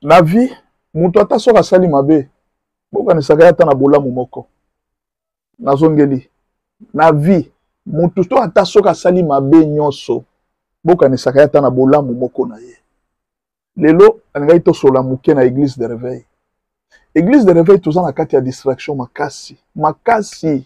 na vie moto ata soki asali mabe bokanisaka ye ata na bolamu moko nazongeli na vie moto to ata soki asali mabe nyonso bokanisaka ye ata na bolamu moko na ye lelo alingaki tosola moke na église de réveil église de réveil toza na kati ya distraction makasi makasi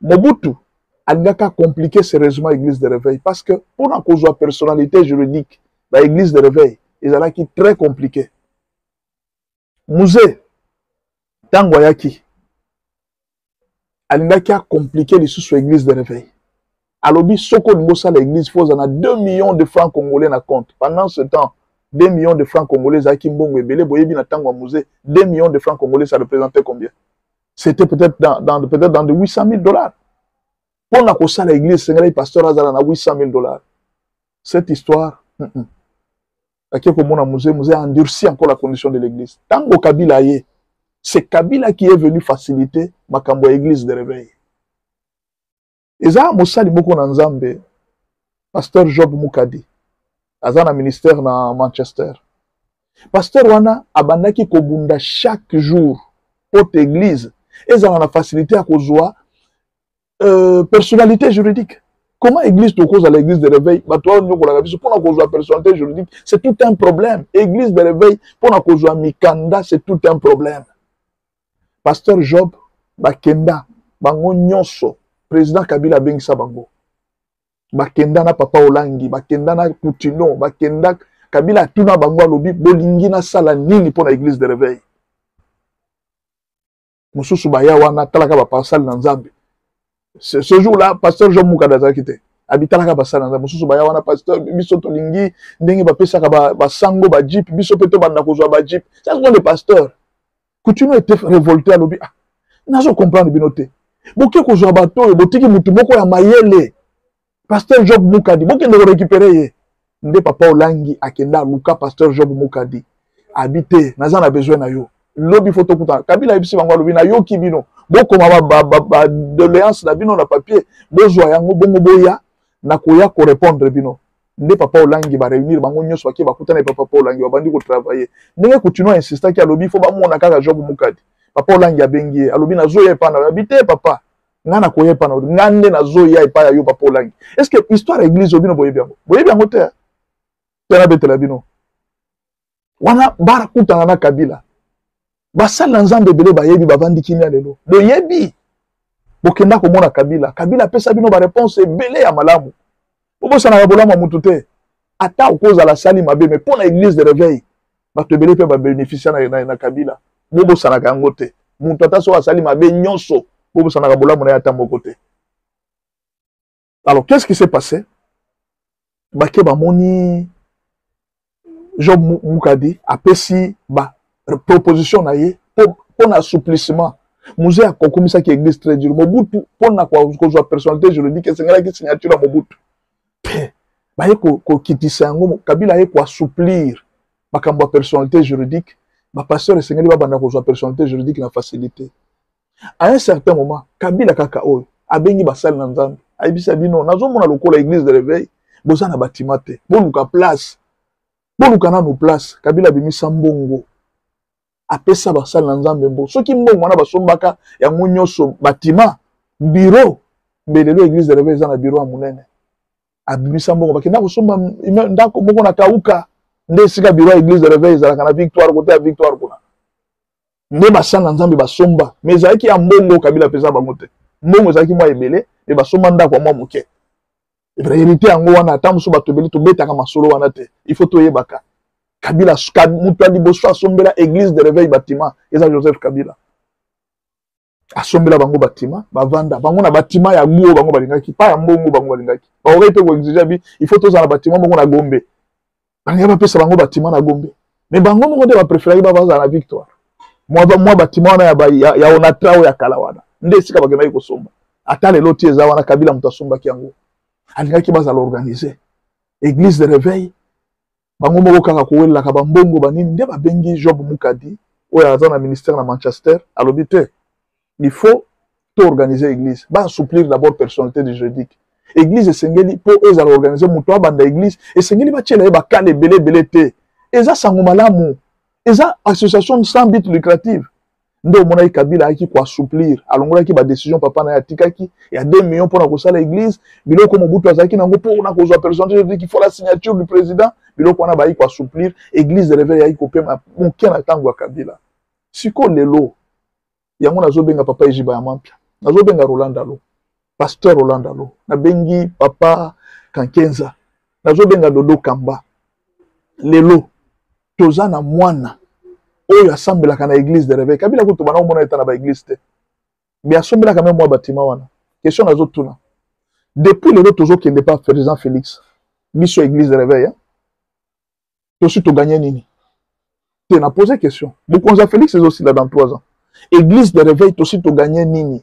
Mobutu alingaki a compliquer sérieusement église de réveil parce que mpo na kozwa personnalité juridique ba église de réveil ezalaki très compliqué muze ntango ayaki alingaki a compliquer lisusu église de réveil alobi soki olingi osala église fo oza na 2 millions de francs congolais na compte pendant ce temps 2 millions de francs congolais ezalaki mbongo ebele boyebi na ntango ya muze 2 millions de francs congolais ça représentait combien c'était peut-être dans, dans, peut dans de 800 000 dollars mpo na kosala église esengelaki pasteur azala na 800 000 dollars cette histoire mm -mm. ake komona musée musée a endurci encore la condition de l'église ntango kabila aye c'est kabila qui est venu faciliter makambo ya église de réveil eza mosali moko na nzambe pasteur job mukadi aza na ministère na manchester pasteur wana abandaki kobunda chaque jour pote église ezala na facilité ya kozwa euh, personnalité juridique comment église tokozala église de réveil bato oyo nyokolaka biso mpona kozwa personnalité juridique c'est tout un problème église de réveil mpona kozwa mikanda c'est tout un problème pasteur job bakenda bango nyonso président kabila abengisa bango bakenda na papa olangi bakenda na poutino bakenda kabila atuna bango alobi bolingi nasala nini mpo na église de réveil mosusu baya wana atalaka baparsale na nzambe ce jour là pasteur jean mukada azalaki te abitalaka basali na nzambe mosusu baya wana pasteur biso tolingi ndenge bapesaka basango ba bajipe biso mpe tobanda kozwa bajipe ça sont des pasteurs Coutinho était révolté alobi ah nazo comprendre bino te boke kozwa bato oyo botiki motu moko ya mayele pasteur job mukadi bokende korécupere ye nde papa olangi akende aluka pasteur job mukadi abi te naza na besoin na yo lobi fo tokutana kabila ayebisi bango alobi nayoki bino bokoma badoléance na bino na papier bozwa yango bongo boya nakoya korépondre bino nde papa olangi ba reunir bango nyonso bake bakutana papa papa olangi babandi kotravaille ndenge kutino insistaki alobi fo bamona kaka job mukadi papa olangi abengi ye alobi nazoya epai na yabi te papa ngai nakoya epai na yo ngai nde nazoya epai ya yo papa olangi est ce que histoire ya église oyo bino boyebi yango boyebi yango te te nabetela bino wana bakutana na kabila basali na nzambe ebele bayebi bavandi kimia lelo boyebi bokenda komona kabila kabila apesa bino bareponse ebele ya malamu bobosanaka bolamu ya motu te ata okozala asali mabe mai mpo na eglise de reveil bato ebele mpe babénéficia na, na, na kabila bobosanaka yango te moto ata soki asali mabe nyonso bobosanaka bolamu na ye ata moko te alors qu'est ce qui s'est passé bake bamoni job mukadi apesi ba proposition na ye mpo na assouplissement muzee akokumisaki église très dur mobutu mpo na kozwa personnalité juridique esengelaki signature ya mobutu te baye kokitisa yango kabila aye koassouplir makambo ya personnalité juridique bapasteur esengeli babanda kozwa personnalité juridique na facilité à un certain moment kabila kaka oyo abengi basali na nzambe ayebisa bino nazomona lokola église de réveil boza na batima te boluka place boluka nanu place kabila abimisa mbongo apesa basali na nzambe mbongo soki mbongo wana basombaka yango nyonso batima biro mbe lelo église de réveil eza na biro ya monene abimisa mbongo bakenda kosomba ndako moko na kauka nde esika biro ya église de réveil ezalaka na victoire kote ya victoire kuna nde basanga nzambe basomba me ezalaki ya mbongo kabila mpeza bango te mbongo ezalaki mwa ebele me basomba ndako ya mwa moke realite yango wana ata mosusu bato ebele tobetaka masolo wana te il faut toyebaka kabila moto ya liboso asombela église de réveil batima eza joseph kabila asombela bango batima bavanda bango na batima ya guo bango balingaki pa ya mbongo bango balingaki baokai mpe koexige bi il faut tozala na batima moko na gombe balingai bapesa bango batima na gombe me bango moko nde bapreferaki bavazala na victoire mwa batima wana ya, ya onatra oyo ya kala wana nde esika bakendaki kosomba ata lelo ti eza wana kabila moto asombaki yango alingaki bazala organise église de réveil bango moko kaka kowelelaka bambongo banini nde babengi job mukadi oyo aza na ministère na manchester alobi te il faut to organise église baassouplir d'abord personnalité du juridique église esengeli mpo ezala organise moto abanda église esengeli batyela ye bakala ebele ebele te eza sango malamu eza association sans but lucrative nde omonaki kabila ayaki koassouplir alongolaki badecision papa na ye atikaki ya 2 million mpo na kosala église biloko mobutu azalaki nango mpo na kozwa personnalité faut la signature du président biloko wana bayaki koassouplir église de reveil ayaki kopema moke na ntango ya kabila siko lelo yango nazobenga papa ejiba ya mampia nazobenga rolanda lo pasteur rolanda lo nabengi papa kankenza nazobenga dodo kamba lelo toza na mwana oyo asambelaka na église de réveil kabila kutu bana komona eta na ba église te mais asombelaka meme mwa batima wana question nazotuna depuis lelo tozokende pa président félix biso église de réveil hein? tosi toganye nini te na pose question bokonzi ya félix ezosila dans trois ans église de réveil tosi toganye nini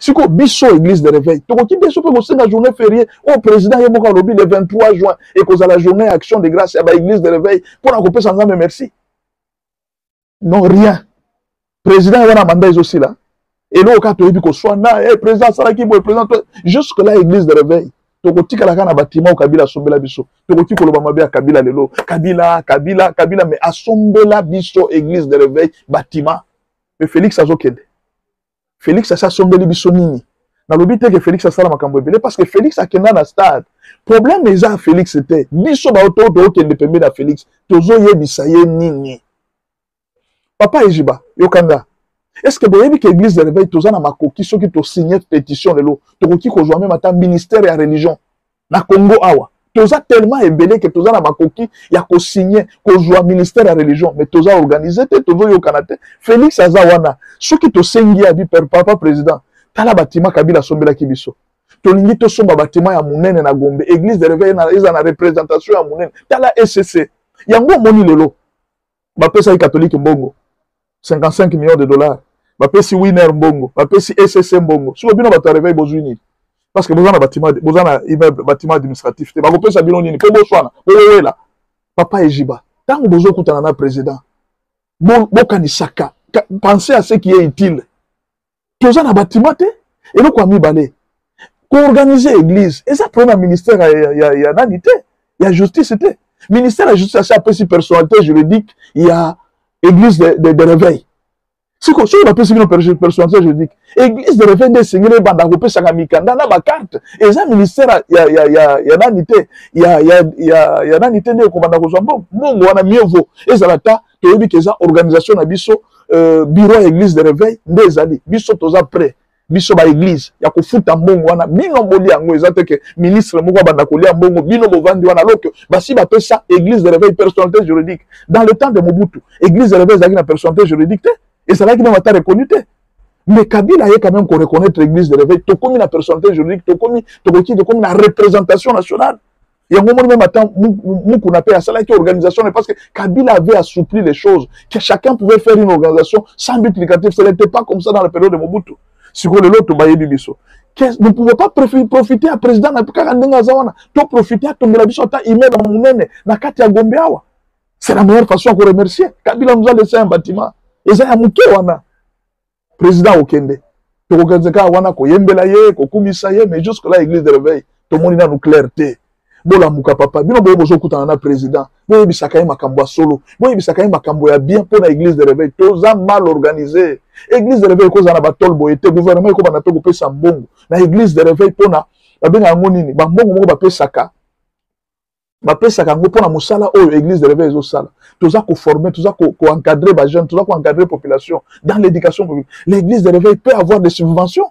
sikoyo biso église de réveil tokoki biso mpe kosenga journée férié oyo oh, président ye moko alobi le 23 juin ekozala journée ya action de grâce ya baéglise de réveil mpo na kopesa nzambe merci non rien président ye wana manda ezosila eloko kaka toyebi koswana e eh, président asalaki boye président jusque là église de réveil tokotikala kaka na batima oyo kabila asombela biso tokoki koloba mabe ya kabila lelo kabila kabila kabila mais asombela biso église de réveil batima mais félix azokende Felix asi asombeli biso nini nalobi te ke Felix asala makambo ebele parce que Felix akenda na stade problème eza Felix te biso bato tookende pembeni ya Felix tozoyebisa ye nini papa ejiba yoka nga est-ce que boyebi ke église de réveil toza na makoki soki tosigne pétition lelo tokoki kozwa meme ata ministère ya religion na congo awa toza tellement ebele ke toza na makoki ya kosigne kozwa ministère ya religion mais toza organise te tozoyokana te félix aza wana soki tosengi abi papa président tala batima kabila asombelaki biso tolingi tosomba batima ya monene na gombe église de réveil eza na représentation ya monene tala ecc yango omoni lelo bapesaki katolike mbongo 55 millions de dollars bapesi winner mbongo bapesi ecc mbongo siko bino bato ya reveil bozwi nini parce que boza na batima boza na immeuble batima administratif te bakopesa bino nini mpo boswana bowela papa ejiba ntango bozokutana na président bokanisaka bo penser à ce qui est utile toza na batima te eloko ya mibale koorganize église eza problème ya ministère ya, ya, ya nani te ya justice te ministère ya justice asi apesi personnalité juridique ya église de, de, de réveil siko soki bapesi bino personnalité juridique église de réveil nde esengeli ebanda kopesaka mikanda na bakarte eza ministère ya, ya, ya, ya nani te ya, ya, ya, ya nani te nde ekobanda kozwa mbongo mbongo wana mieux vaut ezala ata toyebi ke eza organisation na biso euh, bureau ya église de réveil nde ezali biso toza prêt biso ba église ya kofuta mbongo wana bino boli yango eza te ke ministre moko abanda kolia mbongo bino bovandi wana alors que basi bapesa église de réveil personnalité juridique dans le temps de mobutu église de réveil ezalaki na personnalité juridique te ezalaki meme ata reconnu te mais kabila aye quand même koreconnaitre église de réveil tokomi na personnalité juridique tokomi tokoki tokomi na représentation nationale yango omoni meme ata mukuna mpe asalaki organisation ne parce que kabila avait assoupli les choses que chacun pouvait faire une organisation sans but lucratif ce n'était pas comme ça dans la période de mobutu sikoyo lelo tobayebi biso ne pouvait pas profiter ya président na kaka ndenge aza wana to profiter atombela biso ata immeuble ya monene na kati ya gombe awa c'est la meilleure façon ya koremercier kabila nous a laissé un bâtiment eza ya moke wana président okende tokokanisa kaka wana koyembela ye kokumisa ye mais jusque là église de réveil tomoni nanu claire te bolamuka papa bino boye bozokutana na président boyebisaka ye makambo ya solo boyebisaka ye makambo ya bien mpo na église de réveil toza mal organisé église de réveil ekozala na batole boye te gouvernement ekobanda mpe kopesa mbongo na église de réveil mpo na babenga yango nini bambongo moko bapesaka bapesaka yango mpo na mosala oyo église de réveil ezosala toza koforme toza koencadre bajeune toza koencadre population dans l'éducation l'église de réveil peut avoir des subventions